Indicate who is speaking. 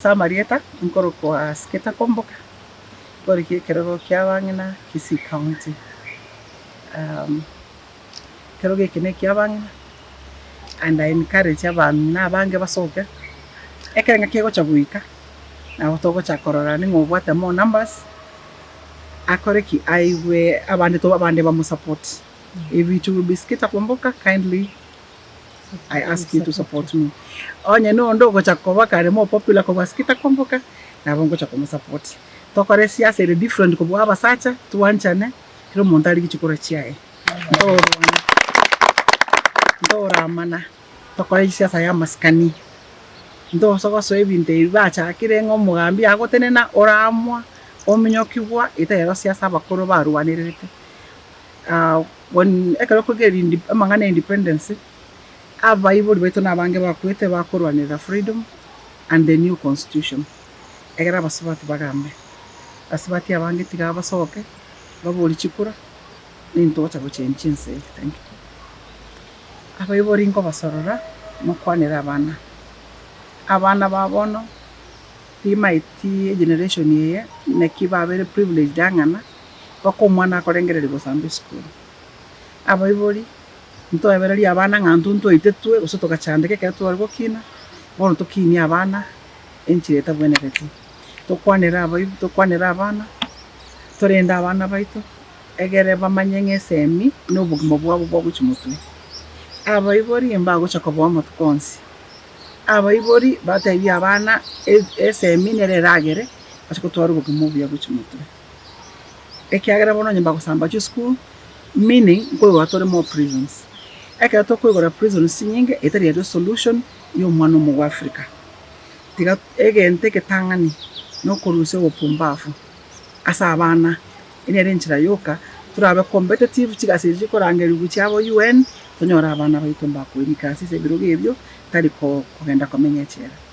Speaker 1: Ase amarieta nkorokwa Askita Komboka nkorigia ekerogo kia abang'ina Kisii County. Ekerogo eke ne ekia abang'ina and I encourage abamina abange basoke ekero ng'a kegocha goika nabo togocha kororana ning'o obwate more numbers akore ki aigwe abande abande bamosupport. If it will be Skita Komboka kindly I ask you to support me. Onye nonde ogocha koba kare more popular kobua Skita Komboka, nabo ngocha komosupport. Tokore esiasa ere different kobua abasacha, twanchane, kera omonto arie chichokora chiaye. Ntorwana, ntoramana, tokore esiasa ya amasikani. Ntosa gosoa ebinto ebi bachakire ng'a omogambi agotenena oraamwa ominyokigwa, etari ero siasa abakoro barwanererete. Ekero okoiga amang'ana ya independence, abaibori baito na abange bakwete bakorwanera freedom and the new constitution. Egera abasubati bagambe, abasubati abange tiga basoke baborie chikura nigo togocha gochengia ense eye. Thank you. Abaibori nkobasorora mokwanere abana, abana ba bono timaeti egeneration eye naki babere privileged ang'ana. mpaka omwana akorengereria gosamba esukuru. Abaibori, ntoebererie abana ng'a intwe ntwaitetwe gose togachandeka ekero tware gokina, bono tokinie abana enchera etagwenereti. Tokwanere abaibori, tokwanere abana, torende abana baito egere bamanye ng'a esemi nobogima bwabo bogochia motwe. Abaibori mbagocha koba amatuko onsi. Abaibori batebie abana esemi nere eragere gose gotwara obogima obuya gochia motwe. ekiagera bono onye mbagosamba chisukuru, meaning nkoigwa tore more prisons. Ekero tokoigora prisons chinyinge etari aria solution ya omwana omo bwa Africa. Tiga egento egetang'ani na okorusia obopumbafu ase abana, eri nere enchera yoka torabe competitive, chigasi echi chikorangerigwa chia aba UN, tonyore abana baito mbakoirika ase ebirogo ebio, tari kogenda komenya echela.